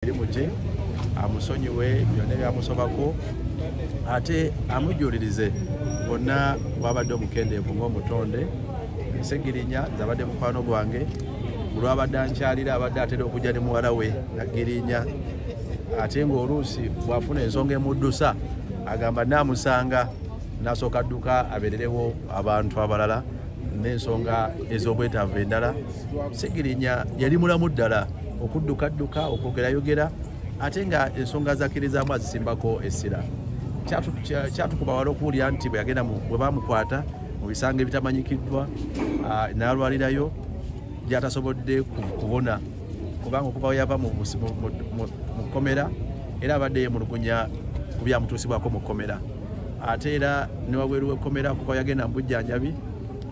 emirimu gye amusonyiwe byonna ebyamusobako ate amujulirize bonna bwabadde omukendeevu ngaomutonde segirinya nze abadde mukwano gwange olwabadde ankyalira abadde atera okujja ne muwala we nagirinya ate ngaoluusi bwafuna ensonga emuddusa agamba namusanga nasooka dduka abererewo abantu abalala n'ensonga ez'obwetaavu endala segirinya yali mulamu ddala okuddukadduka okwogerayogera ate nga ensonga zakirizaamu azisimbako essira kyatukuba wala okuwulira nti bwe yagenda bwe bamukwata mu bisango ebitamanyikiddwa n'alwalirayo gyatasobodde kubona kubanga okuva we yava mu kkomera era abadde yemulugunya ku byamutuusibwako mu kkomera ate era ne wabweru w'ekkomera okuva yagenda mu bujjanjabi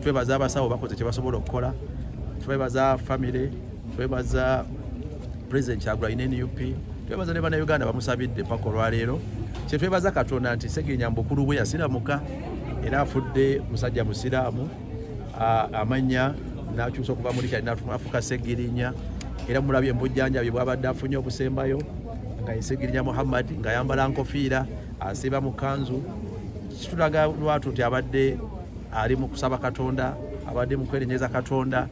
twebaza abasawo bakoze kyebasobola okukola twebaza family twebaza president kyagula ine nup twebaza ne banauganda bamusabidde paka olwaleero kyetwebaza katonda nti segirinya mbukulu bwe yasiramuka era afudde musajja musiraamu amanya nakyusa okuva muli kyali nafuka segirinya era mulabye mubujjanjabi bwabadde afunye obusembayo nga yesegirinya muhammad ngayambala nkofiira asiiba mu kanzu kitulaga lwatu nti abadde ali mu kusaba katonda abadde mu kwerenyeza katonda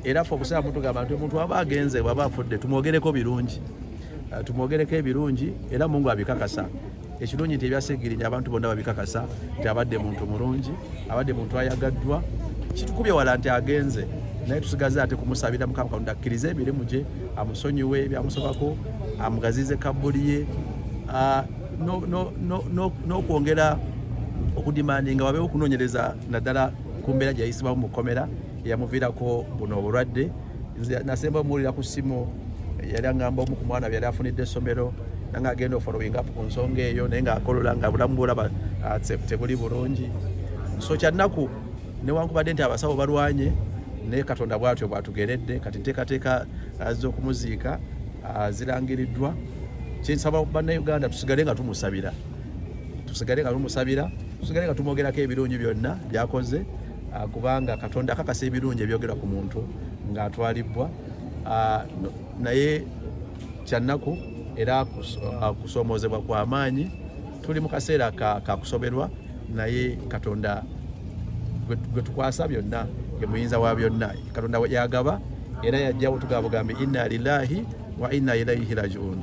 era fe okusaba mutugamba nti omuntu aba agenze bwaba afudde tumwogereko birungi eh, tumwogereko ebirungi era mungu abikakasa ekirungi nti ebyasigirinya abantu bonna babikakasa nti abadde muntu mulungi abadde muntu ayagaddwa kitukubye wala nti agenze naye tusigaze ate kumusabira mukama katonda akkirize emirimu gye amusonyiwe ebyamusobako amugazize kabbuli ye ah, n'okwongera okudimandi nga wabeewo okunoonyereza naddala ku mbeera gyeyayisibwamu mu kkomera eyamuviirako buno obulwadde nze nasemba omuwulira ku ssimu yali angamba omu ku mwana byeyali afunidde essomero nanga agenda ofollowing up ku nsonga eyo naye ngaakolola nga bulamu bwolaba ah, tebuli bulungi so kyannaku newankubadde nti abasawo balwanye naye katonda bwatyo bwatugeredde kati nteekateeka ah, z'okumuziika ah, zirangiriddwa kyensaba bannayuganda tusigale nga tumusabira tusigale nga tumusabira tusigale nga tumwogerako ebirungi byonna byakoze ah, kubanga katonda akakasa ebirungi ebyogera ku muntu ng'atwalibbwa ah, naye kyannaku era ah, kusoomoozebwa kwa maanyi tuli mu kaseera kakusoberwa naye katonda gwe tukwasa byonna ye muyinza wa byonna katonda yagaba era yajjawo tugaba bugambi inna lilahi wa inna ilaihi rajiun